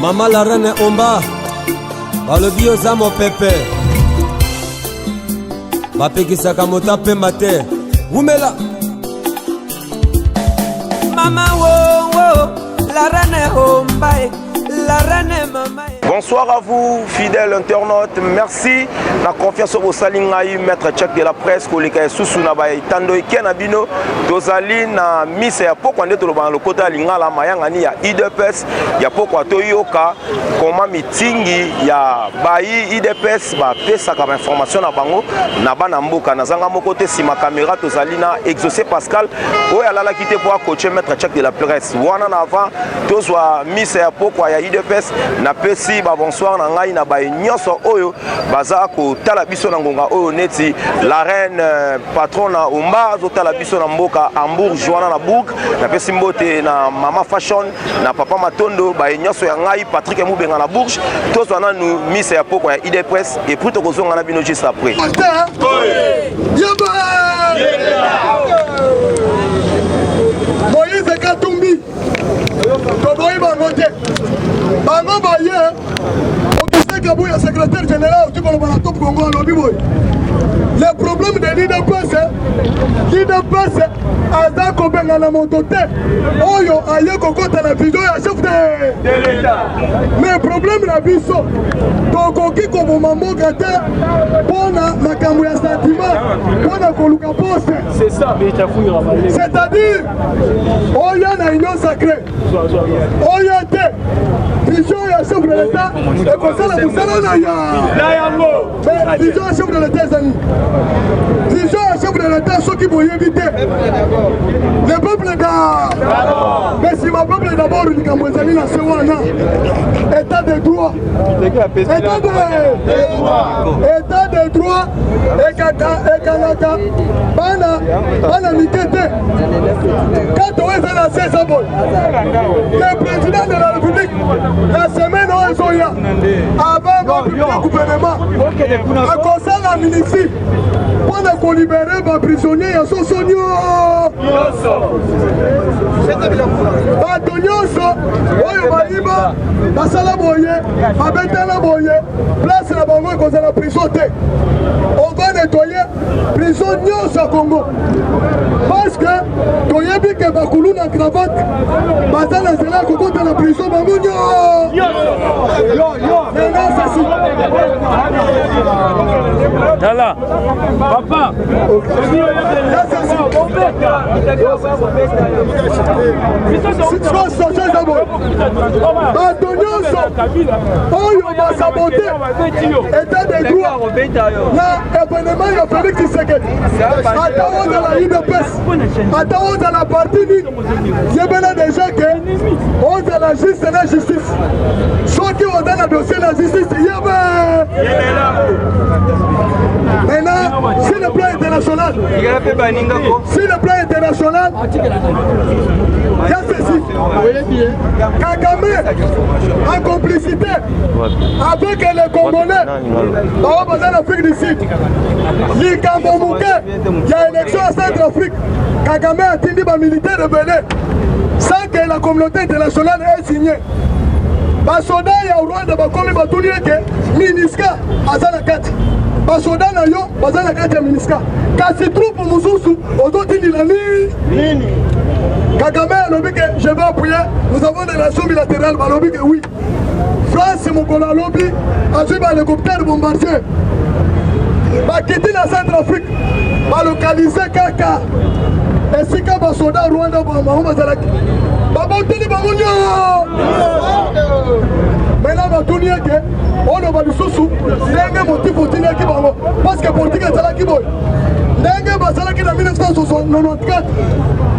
mama la reine omba balobi oza mopepe bapekisaka moto apema te wumela mama wowo la reine omba Bonsoir à vous, fidèles internautes. Merci. La confiance au Salingaï, maître tchèque de la presse, collègue Soussou Nabaye, Tando et Kenabino, Dozali, na Miss et Apoko, on est au Loban, le côté Lingala, Mayangani, ya IDPS, ya Poko, Toyoka, comment meetingi, ya Bayi, IDPS, ba pesa comme information na bango, na bana mboka, na zanga mon côté, si ma caméra, Tozali, na exaucé Pascal, oya lala quitté pour coacher maître tchèque de la presse. Wana na avant, tozwa misa ya pokwa ya udps napesi babonsoir na ngai na baye nyonso oyo baza kotala biso na ngonga oyo neti la reine euh, patrona omba azotala biso na mboka hambourg joana na bourg napesi mbote na mama fashion na papa matondo baye nyonso ya ngai patrik mubenga na bourge tozwa nanu misa ya pokwa ya udps epuis tokozonga na bino juste après moïse katumbi toboyi bango te bango baye augustin kabuya secrétaire général oki koloba na top congo alobi boye le problème de lidps lidps aza kobengana moto te oyo aye kokota na vision ya chef de mais problème na biso tokoki koboma mboka te mpo na makambo ya sentiment mpo na koluka poste c'est-à-dire oya na union sacré oya te vision ya chef de l'état ekosala mosala na ya na yango vision ya chef de l'état ezali vision ya chef de l'état soki boyebi te le peuple da mais nsima peuple d'abord likambo ezali na se wana état de droit état de droit ekata ekangaka bana bana mike te kati oyo eza na sesa boye le président de la république la semaine oyo ezoya avant bapublie gouvernement akosala ministre mpo na kolibere baprisonnier ya soso nyonso bato nyonso oyo bayiba basala boye babetela boye place na bango ekozala prison te ova nettoye prison nyonso ya congo parce que toyebi ke bakulu na cravate baza na nzela ya kokota na prison bango nyonso tala papa sikoyo soso eza boye bato nyonso oyo basabote etat de droit na evenema ya félix tshisekedi ata ozala udps ata ozala parti nini yebela deja ke ozala juste na justice soki oza na dossier na justice yebe maintenant sur le plan international sur le plan international ya ceci Kagame en complicité avec les Congolais baoyo baza na Afrique du Sud likambo moke ya élection ya Centre Afrique Kagame atindi bamilitaire ebele sans que la communauté internationale ait signé basoda ya Rwanda bakomi batuni ete miniska aza na kati basoda na yo baza na kati ya miniska kasi troupe mosusu ozotindila nini kagame alobi ke je vais appuyer nous avons des relations bilatérales balobi ke oui france mokolo alobi azwi bahélicoptère bombardier bakiti na centre afrique balokalize kaka esika basoda rwanda bango bazalaki baboteli bango nyoo mena batuni ete oloba lisusu ndenge motifu otindaki bango parceke politike ezalaki boye ndenge bazalaki na 1994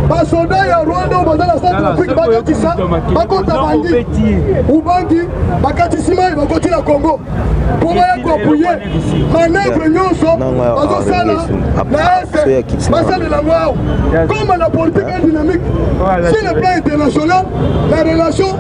basoda ya rwanda oyo baza na centre afrique bakatisa bakota bandi ubangi bakatisi mai bakoti na congo mpo baya koapuye manevre nyonso bazosala na ese basalela yango awa koma na politike dynamique sur le plan international la relation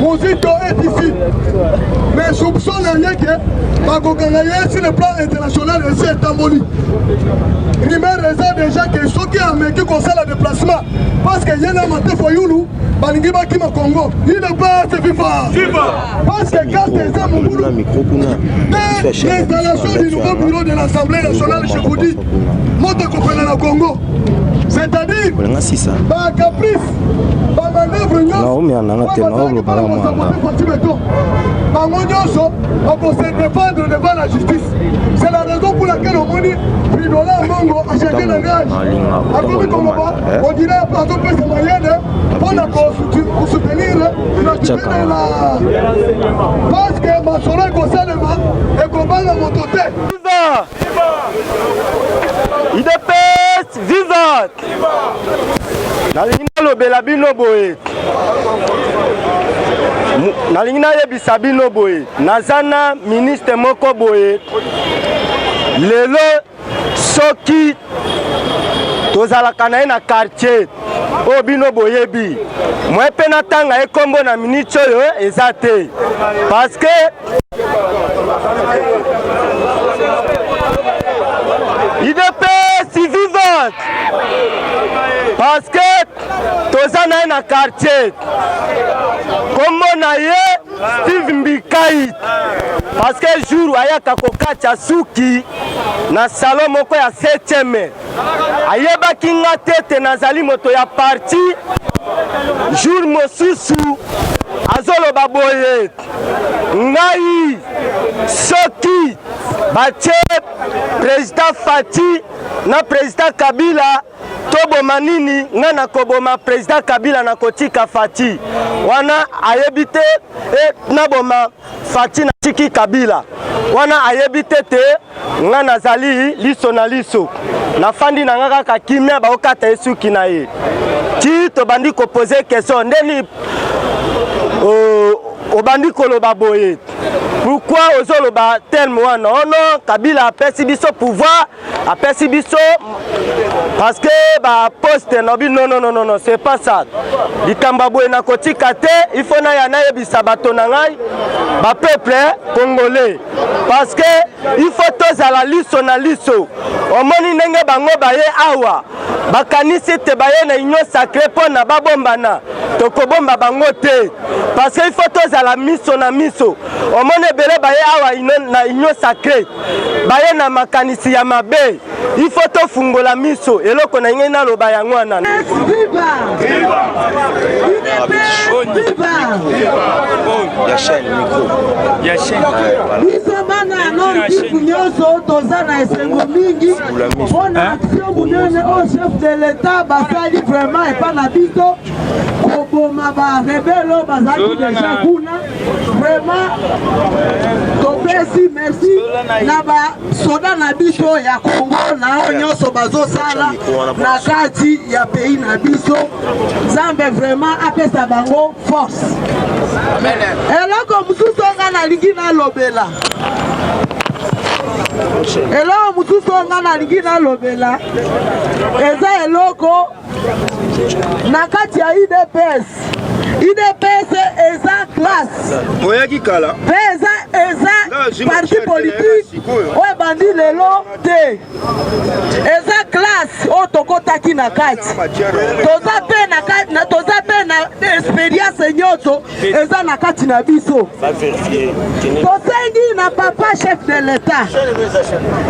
Mozito est ici. Mais soupçon na ye que bakokanga ye sur le plan international esi etamboli. Rumeur eza déjà que soki ameki kosala déplacement parce que ye na Mate Fayulu balingi bakima Congo. Il ne passe FIFA. FIFA. Parce que carte eza mobulu. Dès l'installation du nouveau bureau de l'Assemblée nationale, je vous dis, moto ekopela na Congo. C'est-à-dire, ba caprice naomia nanga te naoloba na mwana bango nyonso bakose défendre devant la justice c'est la raison pour laquelle omoni pridola mongo achake na gage akomi koloba odire azopesa mayele mpo na kosoutenir inatibinela parce que masolo ekosalema ekobanga moto te idps Viva! Nalingi nalobela bino boye nalingi nayebisa bino boye naza na ministre moko boye lelo soki tozalaka na ye na quartier oyo bino boyebi mwe mpe natanga ye nkombo na miniti oyo eza te parce que idps vivante parce que toza na ye na quartier kombo na ye steve mbikait parce que jour ayaka kokatya suki na salon moko ya 7e ayebaki nga te te nazali moto ya parti jour mosusu azoloba boye ngai soki batie president Fati na president Kabila toboma nini nga nakoboma president kabila nakotika fati wana ayebi te e, naboma fati natiki kabila wana ayebi te te nga nazali liso na liso nafandi na nga kaka kimia baokata ye suki na ye ti tobandi kopose question ndeni obandi koloba boye pourkui ozoloba terme wana ono oh kabila apesi biso pouvoir apesi biso parce que baposte nabi nonnononono c'est pas ça likambo ya boye nakotika te il faut naya nayebisa bato na ngai bapeuple congolais parce que il faut tozala liso na liso omoni ndenge bango baye awa bakanisi ete baye na union sacré mpo na babombana tokobomba bango te parce que il faut tozala miso na miso omoni ebele baye awa na union sacré baye na makanisi ya mabe ifo tofungola miso eloko na ngai naloba yango wana biso bana ya norkivu nyonso toza na esengo mingi mpo na aktio monene oyo chef de l'etat basali vraiment epa na biso koboma barebelo bazalaki deja kuna vraiment topesi merci na ba soda na biso ya kongo na oyo nyonso bazosala na kati ya pays na biso nzambe vraiment apesa bango force eloko mosusu nga nalingi nalobela eloko mosusu nga nalingi nalobela eza eloko na kati ya udps udps eza classe oyaki kala mpe eza eza parti politike oyo ebandi lelo te eza classe oyo tokotaki na kati toza mpe na toza mpe na experience nyonso eza na kati na biso tosengi na papa chef de l'etat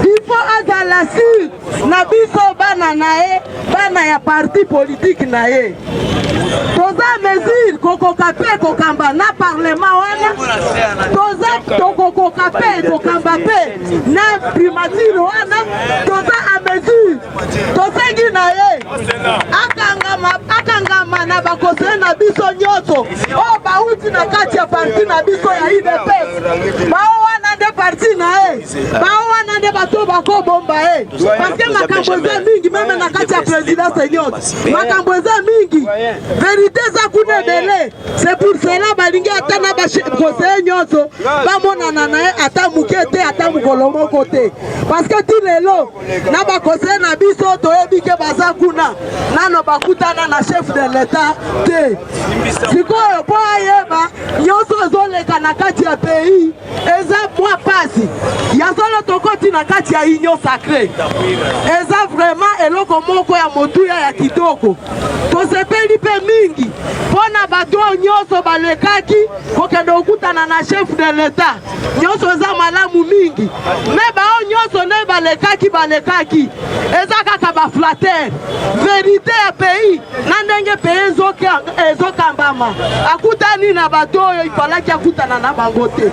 il faut azala sur na biso bana na ye bana ya parti politiki na ye toza mesure kokoka mpe kokamba na parlement wana toza tokokoka mpe kokamba mpe na primature wana toza a mesure tosengi na ye akangama akangama na bakoseye na biso nyonso oyo bauti na kati ya parti na biso ya udps bao wana nde parti na ye Bao wana nde bato bakobomba ye eh. parceke makambo eza mingi meme na kati ya présidence eliote makambo eza mingi verité eza kuna ebele c'est pour cela balingi ata na baconseiller nyonso bamonana na ye ata moke te ata mokolo moko te parceke ti lelo na baconseiller na biso toyebi ke baza kuna nano bakutana na chef de l'etat te sikoyo mpo ayeba nyonso ezoleka na kati ya pays eza mwa pasi ya solo tokoti na kati ya union sacré eza vraiment eloko moko ya motuya ya kitoko tosepeli mpe mingi mpo na bato oyo nyonso balekaki kokende kokutana na chef de l'etat nyonso eza malamu mingi me baoyo nyonso nde balekaki balekaki eza kaka baflatere verité ya pays na ndenge mpe ezokambama akutani na bato oyo ifalaki akutana na bango te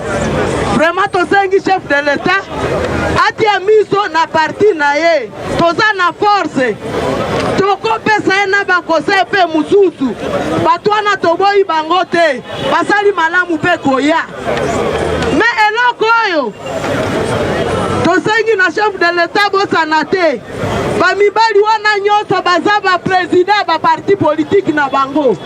vraiment tosengi chef de l'etat atia miso na parti na ye toza na force tokopesa ye na bakosei mpe mosusu bato wana toboyi bango te basali malamu mpe koya me eloko oyo tosengi na chef de l'etat bosana te bamibali wana nyonso baza bapresident ba parti politiki na bango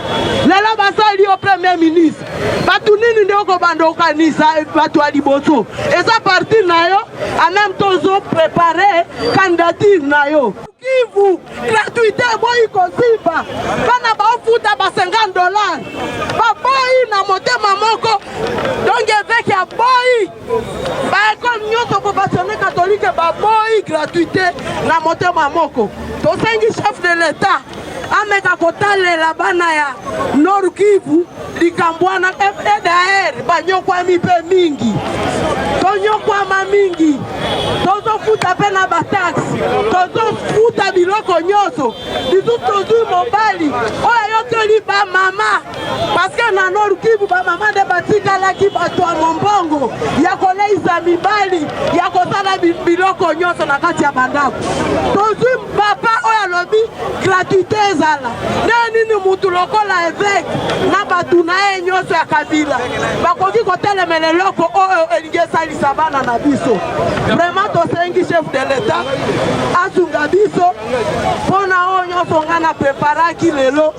lelo basali yo premier ministre bato nini nde okobanda okanisa bato ya liboso eza parti na yo ameme to ozo prepare candidature na yo kivu gratuité eboyi kosimba bana baofuta ba 50 dollars baboyi na motema moko donge eveke aboyi ba ekole nyonso professione katolike baboyi gratuité na motema moko tosengi chef de l'etat ameka kotalela bana ya nord kivu likambo wana fdr banyokwami mpe mingi tonyokwama mingi tozofuta mpe na bataxe tozofuta biloko nyonso lisusu tozwi mobali oyo ayokeli bamama paske na nord kivu bamama nde batikalaki bato ya mombongo ya koleisa mibali ya kosala biloko nyonso na kati ya bandako tozwi papa oyo alobi gratuité ezala nde nini motu lokola eveke na bato na ye nyonso ya kabila bakoki kotelemela eloko oyo elingi esalisa bana na biso vraiment tosengi chef de l'etat asunga biso mpo na oyo nyonso ngai na preparaki lelo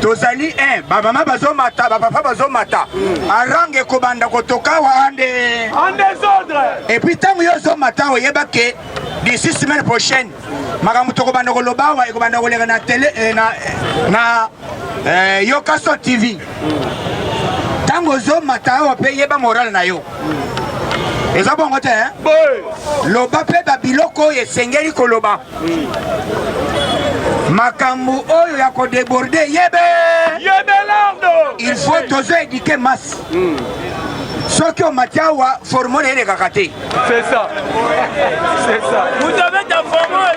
tozali un bamama bazomata bapapa bazomata arange ekobanda kotoka wande epuis ntango yo ozomata oyeba ke d'ici semaine prochaine makambo tokobanda koloba awa ekobanda koleka na tele eh, na, eh, na eh, yokaso tv ntango ozomata awa mpe yeba morale na yo eza bongo te loba mpe babiloko oyo esengeli koloba makambo oyo ya kodeborde yebe il faut tozo edike masse hmm. soki omati awa formole elekaka te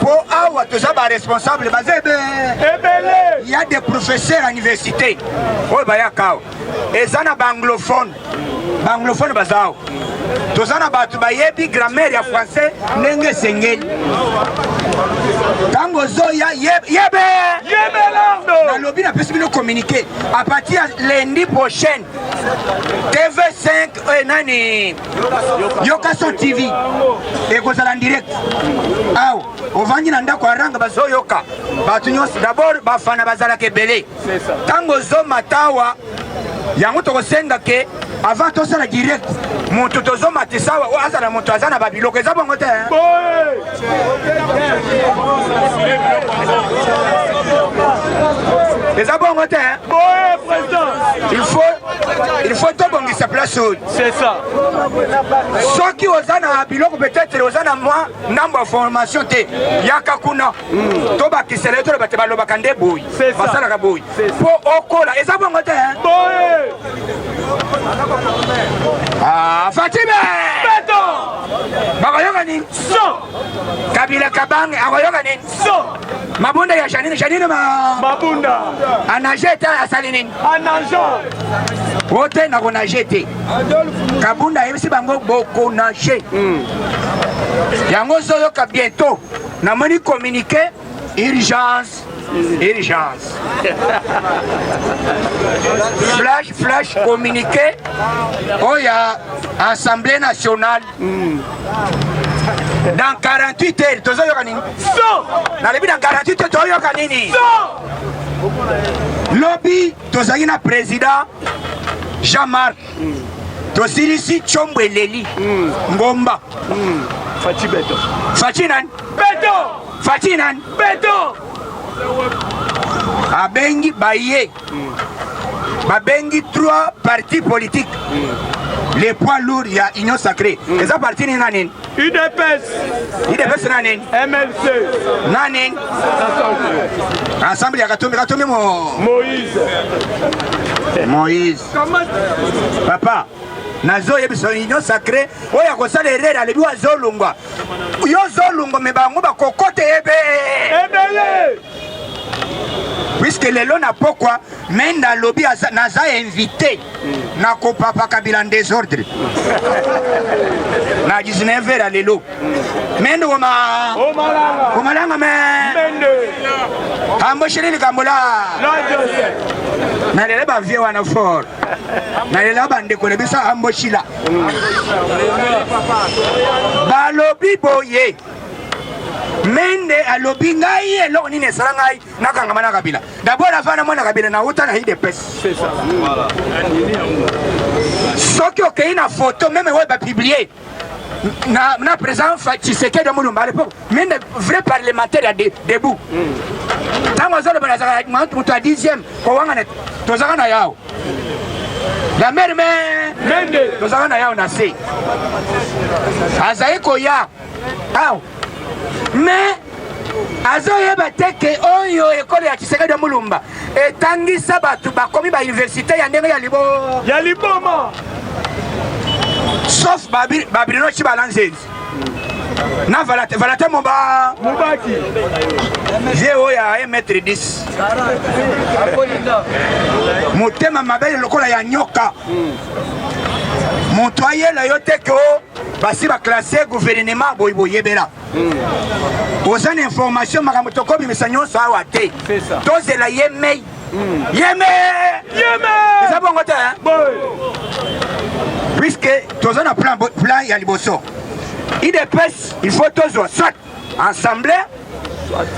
po awa toza ba responsable baza ebele ya des professeurs ya université oyo bayaka awa eza na baanglophone baanglophone baza awa toza na bato bayebi grammaire ya français ndenge esengeli ntango ozoya yebe nalobi napesi bino communiqué à partir ya lundi prochaine tv5 oyo eh, nani yokaso tv ekozala direct awa ovandi na ndako ya ranga bazoyoka bato nyonso dabord bafana bazalaka ebele ntango ozomata awa yango tokosenga ke avant tosala direct moto tozomatisa awa oyo azala moto aza na babiloko eza bongo te eza bongo te il faut tobongisa place oyo soki oza na biloko peut-être oza na mwa ndambo ya formation te yaka kuna hmm. tobakisela eto bate balobaka nde boyi basalaka boyi mpo okola eza bongo te ah, fatime bakoyoka nini kabila kabange akoyoka nini mabunda ya janine janine ma mabunda anage te asali nini anage o te nakonage te kabunda ayebisi bango bokonage hmm. yango ozoyoka bientôt namoni communiqué urgence urgence flash flash communiqué oyo oh, ya assemblée nationale Hmm. Dans 48 heures, tozo yoka nini? So! Na lebi dans 48 heures, tozo yoka nini? So! Lobi, tozali na président Jean-Marc. Hmm. Tosilisi chombo eleli. Hmm. Ngomba. Hmm. Fachi Beto. Fachi nani? Beto! Fachi nani? Beto! Abengi baye. babengi trois partis politiques mm. les poids lourds ya union sacré mm. eza parti nini na nini udps udps na nini mlc na nini ensemble ya katumbi katumbi mo moïse moïse papa nazoyebisa union sacré oyo akosala erere alebi wazolungwa yo zolungwa me bango bakokota ebe ebele puisque lelo na pokwa menda alobi naza invité na kopapa kabila desordre na 19 heures ya lelo mende woma omalanga me ambosheli likambo la nalela bavie wana fort nalela bandeko na biso amboshila balobi boye mende alobi ngai eloko nini esala ngai nakangama na kabila dabord afa na mwana kabila nauta na idps soki okei na foto meme oyo bapiblie na, na président tshisekedi ya mulumba alepo mende vrai parlementaire ya debout ntango azoloba nazaka moto ya dixième kowangana tozaka na yao la mare me tozaka na yao na se azali koya awa mais azoyeba te ke oyo ekolo ya tshisekedi ya mulumba etangisa bato bakomi bauniversité ya ndenge ya libo ya liboma sauf babirino ci balanzenzi na valate valate moba mobaki ye oyo ya 1 mètre 10 motema mabe lokola ya nyoka moto ayela yo te ke basi ba classe gouvernement boyi boyebela hmm. oza na information makambo tokobimisa nyonso awa te tozela ye mei hmm. yeme eza bongo te puisque toza na plan, plan ya liboso idps il faut tozwa soit ensemble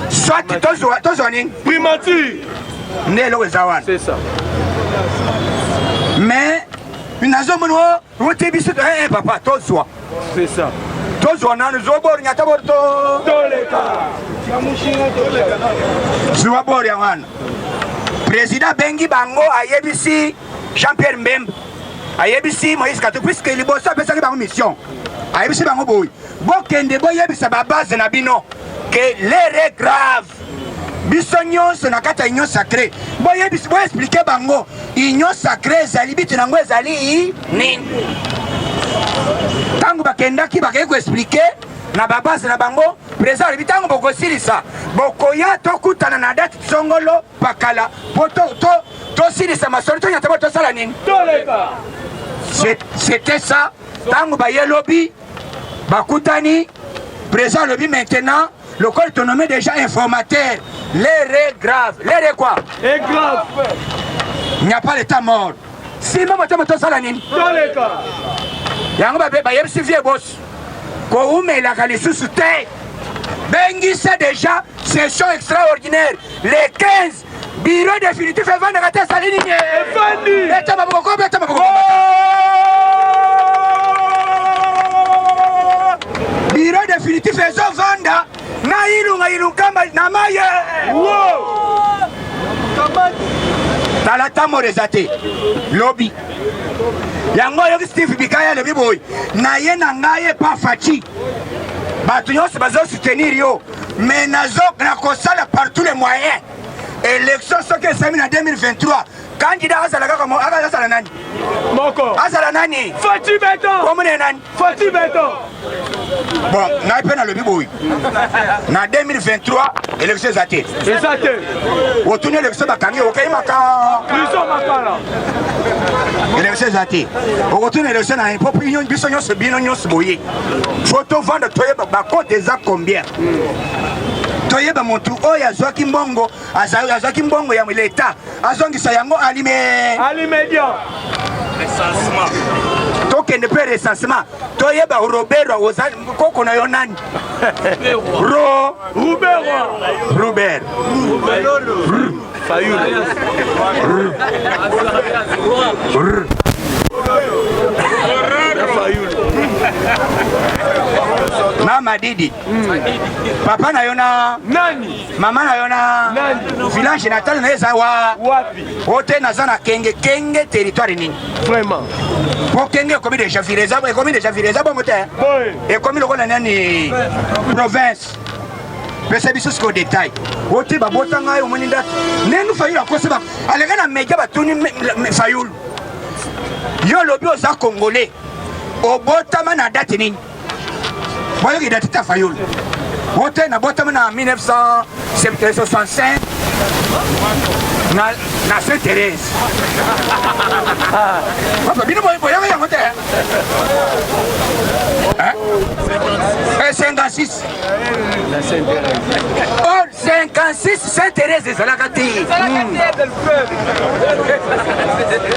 soit tozwa tozwa nini primature nde eloko eza wana mais nazomoni Vous te bisous, eh, eh, papa, toi, toi. C'est ça. Toi, toi, non, nous, au bord, n'y a pas de temps. Dans les cas. Tu vas boire, Yaman. Président Bengi Bango, Ayebisi, Jean-Pierre Mbembe. Ayebisi, Moïse Katou, puisque les boss, ça fait ça, les mission. Ayebisi, Bango, Boy. Bon, Kende, Boy, Yebisa, Babaz, Nabino. Que l'heure est grave. biso nyonso na kati ya union sacré boyebisi boexplike bango union sacré ezali bitu na yango ezali nini ntango bakendaki bakei koexplike na babase na bango president alobi ntango bokosilisa bokoya tokutana na date songolo pakala mpo tosilisa masolo tonyata bo tosala nini c'était ça ntango baye lobi bakutani président alobi maintenant lokola tonomme déjà informateur l'heure est grave l'heure est quoi est grave il n'y a pas l'état mort sima motema tosala nini toleka yango bayebisi vie bosi kowumelaka lisusu te bengisa déjà session extraordinaire le 15 Biro definitif evandaka te ezali nini? Efandi. Beta maboko ko beta maboko. Biro definitif ezo vanda na ilunga ilunkamba na maye. Tala tamoro eza te lobi yango oyoki steve bikaya alobi boye naye na ngai epa faci bato nyonso bazosoutenir yo mais nazo nakosala par tous les moyens élection soki esami na 2023 kandida azala kaka azala nani moko azala nani fati beton komune nani fati beton bon ngai mpe nalobi boyi na 2023 élection eza te eza te otuni élection bakangi okei maka biso makala élection eza te okotuni élection na biso nyonso bino nyonso boye fo tovanda toyeba bakote eza combien toyeba motu oyo azwaki mbongo azwaki mbongo ya leta azongisa yango alime tokende mpe recensement toyeba roberwa oza koko na yo nani ro robert Fayulu. mama didi hmm. papa na yo na nani mama na yo na nani village natal na eza wa wapi ote naza na kenge kenge territoire nini vraiment po kenge ekomi deja ville eza ekomi deja ville eza bongo te ekomi lokola nani province pesa biso sikoyo detail ote babota ngai omoni ndatu nenu fayulu akosi ba aleka na media batuni fayulu yo olobi oza congolais obotama na date nini boyoki date ta fayulu ote nabotama na 1965 na, na Saint Thérèse. Ah. Papa, bino boyoka yango te. 56 or 56 saint therese ezalaka te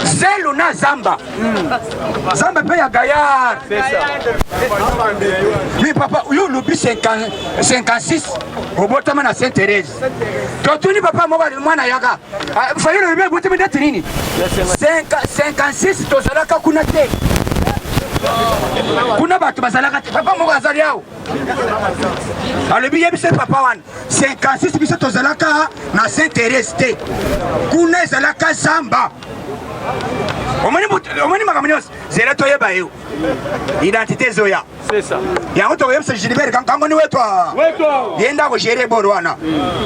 zelu na zamba zamba mpe ya gayar mi papa yo olobi 56 obotama na saint therese totuni papa moko mwana yaka ah, fayulu olobi ebotemi ndeti nini 56 tozalaka kuna te kuna bato bazalaka te papa moko azali awa alobi ye biso papa wana 56 biso tozalaka na saint therese te kuna ezalaka zamba omoni makambo nyonso zela toyeba yo identité ezoya yango tokoyebisa gilibert kango ni wetu ye nde akogere bolo wana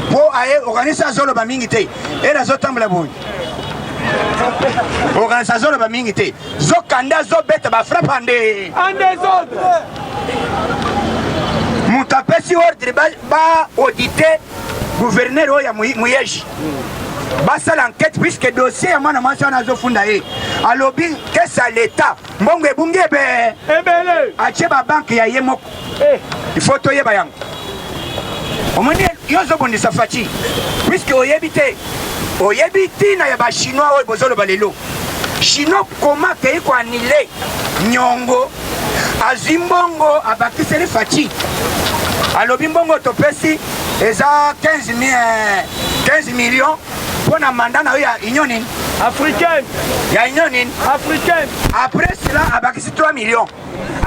mpo aye okanisi azoloba mingi te ele azotambola boye okanisi azoloba mingi te zokande azobeta bafrappe ande moto apesi ordre baaudite guvernere oyo ya muyeji basala enquête puisque dossier ya mwana mwasi wana azofunda ye alobi kesa leta mbongo ebungi ebe ebele atie babanke ya ye moko eh. ifo toyeba yango omoni yo ozobundisa faci puiske oyebi te oyebi ntina ya bachinois oyo bozoloba lelo chinois koma akei koanile nyongo azwi mbongo abakiseli faci alobi mbongo topesi eza 15 millions Mpo na mandat na yo ya union nini? Africaine. Ya union nini? Africaine. Après cela abakisi 3 millions.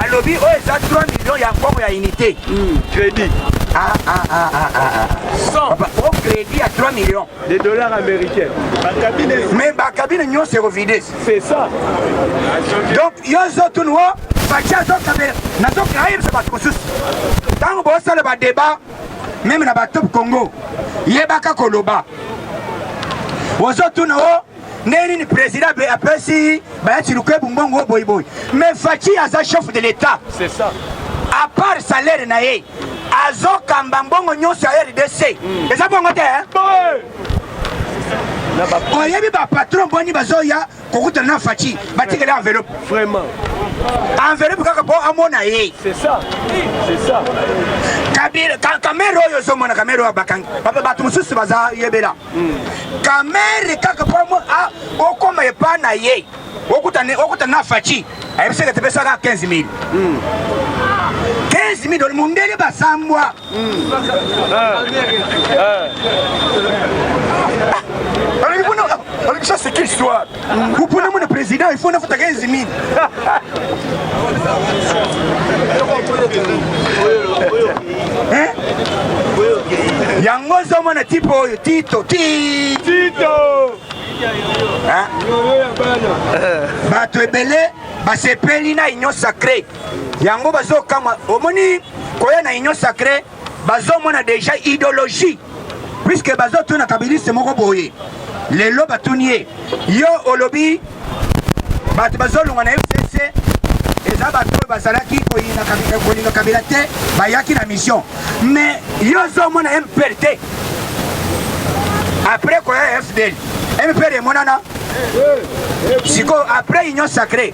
Alobi oyo eza 3 millions ya mbongo ya unité. Hmm. Credit. Ah ah ah ah ah. 100. Ah. Papa, au crédit ya 3 millions. Des dollars américains. Mais ba cabine nyonso ekovide. C'est ça. Donc yo zotunwo batia zokabela nazokayebisa bato mosusu ntango bosala badeba meme na batop congo yebaka koloba ozotuna o ndenge nini président apesi bayati lukebu mbongo oyo boyiboyi mais faci aza chef de l'état à part salaire na ye azokamba mbongo nyonso ya rdc hmm. eza bongo te oyebi bapatron boni bazoya kokutana na faci batikela enveloppe vraiment enveloppe kaka mpo amona ye kamere oyo ozomona kamere oyo bakangi bato mosusu baza yebela hmm. kamere kaka mpo okoma epa na ye okutana na faci ayebisaka tepesaka 15 000 15 000 mundele basambwa Ça, c'est quelle histoire Vous prenez mon président, il faut une photo 15 000. Hein yango ozomona tipo oyo tito ti tito bato ebele basepeli na union sacré yango bazokamwa omoni koya na union sacré bazomona deja idéologie puiske bazotuna kabiliste moko boye lelo batuni ye yo olobi bato bazolongwa na fcc eza bato oyo bazalaki kolinga kabila te bayaki na mission mais yo ozomona mpr te après koya fdl mpr emonana sikoyo après union sacré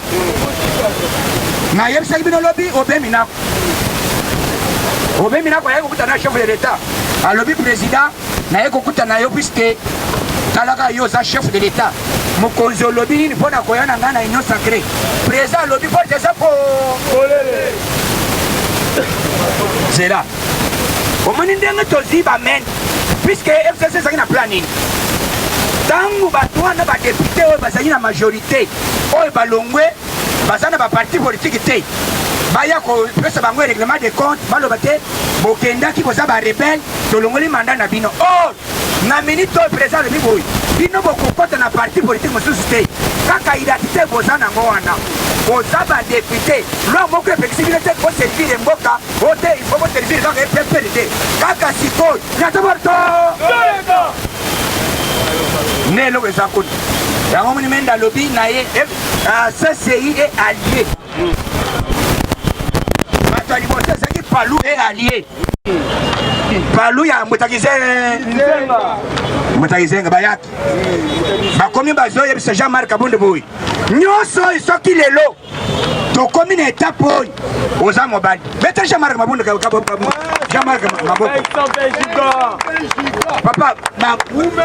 nayebisaki bino lobi obe minako obe minako ayaki kokutana na chef de l'etat alobi président naye kokutana yo puiske talaka yo oza chef de l'etat mokonzi olobi nini mpo na koya na ngai na union sacré président alobi porte eza po polele zela omoni ndenge tozwi bamene puiske fcc ezalaki na plan nini ntango bato wana badepute oyo bazali na majorité te oyo balongwe baza na ba parti politique te baya kopesa bango règlement de compte baloba te bokendaki boza ba rebelle tolongoli mandat na bino or na minute oyo président alobi boye bino bokokota na parti politique mosusu te kaka identité boza nango wana boza badepute loi moko epekisi bino te boservire mboka oyo te ifo boservire kaka epp te kaka sikoyo nyatabarto nde eloko eza kuna yango moni mende alobi na ye eh, ah, ccei e alie bato ya liboso ezalaki palu e alie palu ya mbutakizenga mbutakizenga bayaki bakomi bazoyebisa jean marc abonde boye nyonso soki lelo tokomi na etape oyo oza mobali beta jean-marc mabondo jean-marc maboko papa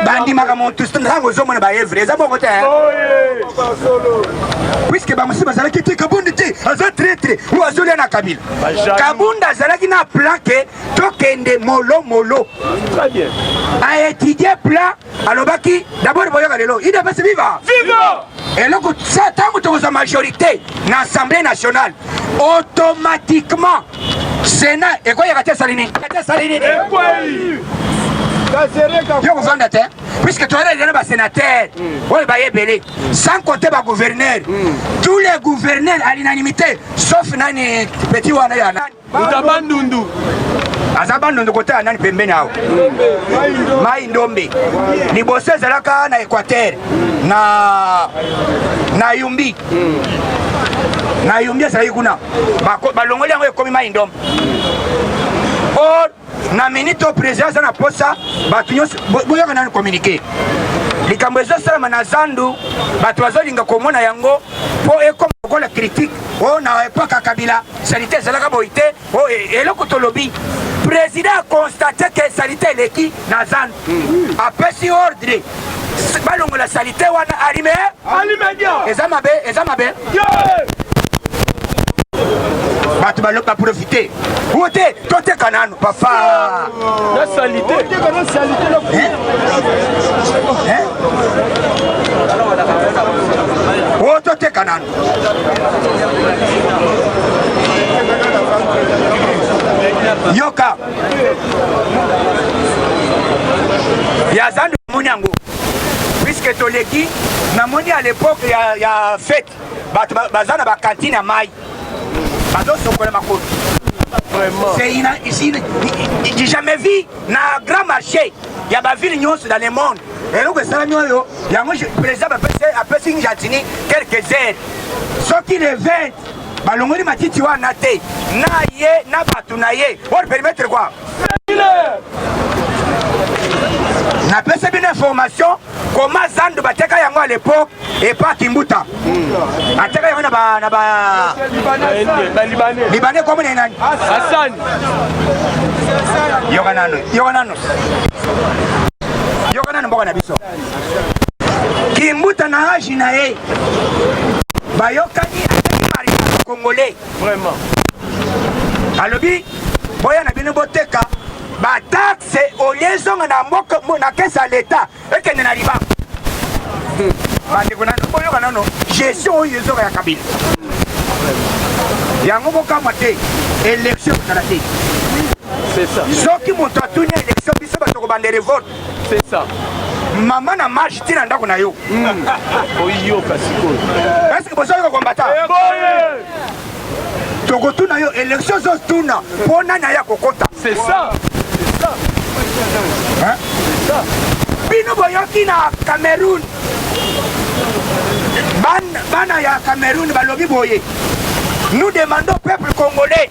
bandimaka motu ntango ozomona baevre eza bongo te eh? puiske bamosusu bazalaki te kabundi te aza tretre oyo azolia na kabila kabundi azalaki na plan ke tokende molomolo aetudie plan alobaki d'abord boyoka lelo idps viva viva eloko sa ntango tokozwa majorité na assemblée nationale automatiquement sénat ekweyaka te esali nini te esali nini yo kovanda te puisque toyelelana basénateur hmm. oyo baye ebele sans compter bagouverneur hmm. tous les gouverneurs à l'unanimité sauf nani petit wana ya nani Uta Bandundu. aza bandundu kotala nani pembeni awa mai ndombe liboso ezalaka na équateur na na yumbi na yumbi ezalaki kuna balongoli yango ekomi mai ndombe na minute oyo president aza na posa bato nyonso boyoka nanu communiqué likambo ezosalama na zandu bato bazolinga komona yango mpo ekoma lokola kritike o oh, na epoke ya kabila salite ezalaka boyi te o oh, e, eloko tolobi president akonstate ke salite eleki na zandu apesi ordre balongola salite wana alime eza mabe eza mabe bato baloba profite o te toteka nanu papa na salite o toteka nanu yoka ya zando omoni yango puiske toleki namoni à l'époque ya, ya fete bato baza na bakantine ya mai bazosokola makolo c'est jamais vu na grand marché ya bavile nyonso dans le monde eloko esalami oyo yango président apesi ngatini quelques heures soki le 20 balongoli matiti wana te na ye na bato na ye or perimetre kua napesi bino information koma zando bateka yango a lepoke epa kimbuta ateka yango na balibane komo na nani yoka nano yoka nano yoka nano mboka na biso Kimbuta na age na ye bayokani mariage congolais vraiment alobi boya na bino boteka bataxe olie ezonga na mboka na kesi ya leta ekende na libango hmm. bandeko nano boyoka nano gestion oyo ezonga ya kabila yango bokamwa te election kozala te soki moto atuni election biso bato kobanda revolte C'est ça. Mama na marche tina ndako na yo. Hmm. Oyoka sikoyo. Est-ce que bozo ko combattre? Eh, Tokotuna yo élection zo tuna mpo nani aya kokota. C'est ça. C'est ça. Hein? C'est ça. Bino boyoki na Cameroun. Bana ya Cameroun balobi boye. Nous demandons au peuple congolais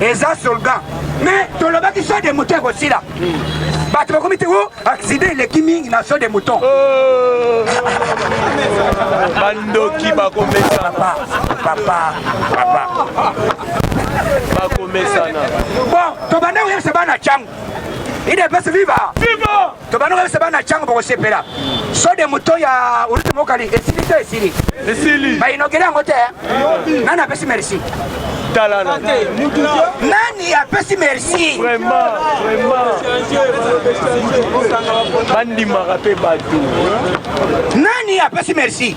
eza soldat mais tolobaki so de moto ekosila bato bakomi te o oh, accident eleki mingi na so de mouton oh. bandoki bakomesana papa papa bakomesana bon tobanda koyebisa bana cango idepesi viva viva tobanda koyebisa bana na cango bokosepela sode moto ya urute mokali esili to esili esili bayinogele yango te nani apesi merci talana nani apesi merci bandimaka mpe bato nani apesi merci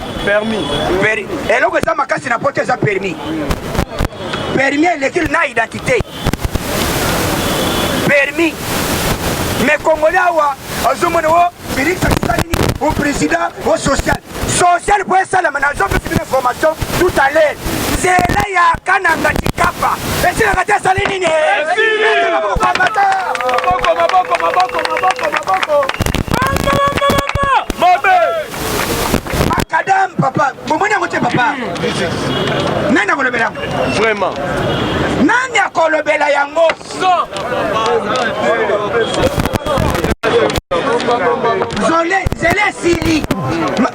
permis peri eloko eza makasi na poto eza permis permis eleki na identité permis mais congolais awa azomona o felix akisali nini o président o social social po esalama nazopesi bino information tout à l'heure nzela ya kananga tikapa esilaka te esali nini Macadam papa, bomoni yango te papa? Nani akolobela yango? Vraiment. Nani akolobela yango? Zole, zele sili.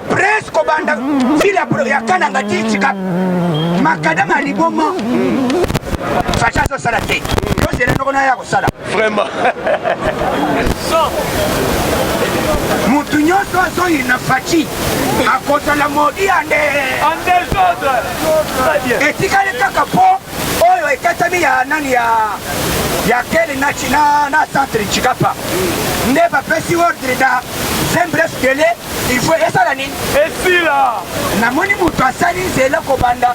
Presse kobanda sila ya kananga tichika. Macadam aliboma. Facha azosala te. Yo zele noko na ya kosala. vraiment motu nyonso azoyina faci akozala modi ande etikali kaka mpo oyo ekatami ya nani ya ya kele na china na centre chikapa nde bapesi ordre na sembles kele il faut esala nini esila namoni moto asali nzela kobanda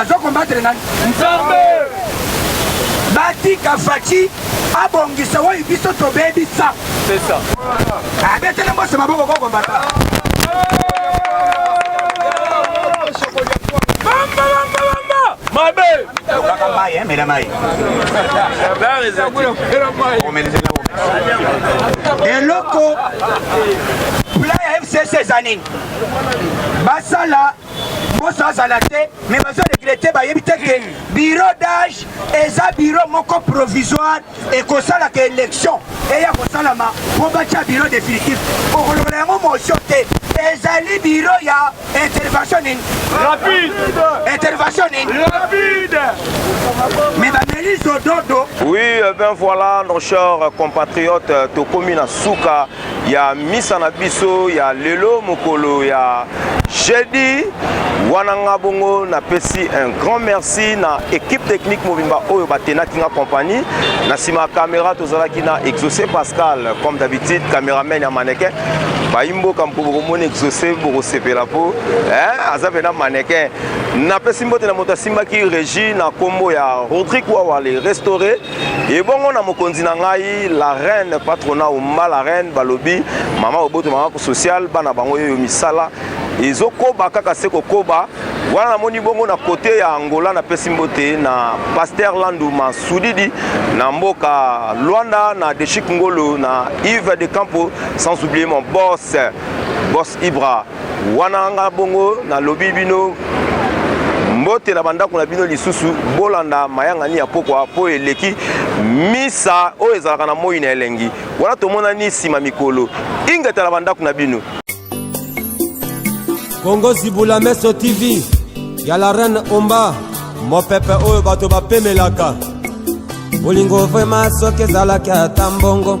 azo combattre nani nzambe batika faci abongisa oyo biso tobebisa abetele mboso maboko kokombata mabe tokaka mai emela mai eloko pla ya fcc eza nini basala poso azala te me bazo regrete bayebi te ke bureau d'age eza bureau moko provisoire ekosalaka élection eya kosalama mpo batya bureau définitif okolokola yango motion te ezali bureau ya intervention nini rapide intervention nini rapide me bameli zododo oui euh, ben voilà nos chers compatriotes euh, tokomi na suka ya misa na biso ya lelo mokolo ya jeudi wana nga bongo napesi un grand merci na équipe technique mobimba oyo batenaki nga compagnie na nsima ya caméra tozalaki na exaucé pascal comme d'habitude caméraman ya mannequin bayi mboka mpo bokomona exaucé bokosepela mpo eh, aza mpena mannequin napesi mbote na moto asimbaki régie na nkombo ya rodrigue wawa le restauré ebongo na mokonzi na ngai la reine patrona omba la reine balobi mama oboto mama social bana bango yeyo misala ezokoba kaka se kokoba wana namoni bongo na kote ya angola napesi mbote na paster landu masudidi na mboka luanda na deshik ngolo na ive de campo sans oublier mon boss boss ibra Wana nga bongo nalobi bino mbote na bandako na bino lisusu bolanda mayangani ya pokwa mpo eleki misa oyo ezalaka na moi na elengi wana tomonani nsima mikolo ingeta na bandako na bino kongo zibula meso tv ya la reine omba mopepe oyo bato bapemelaka bolingo vrema soki ezalaki ata mbongo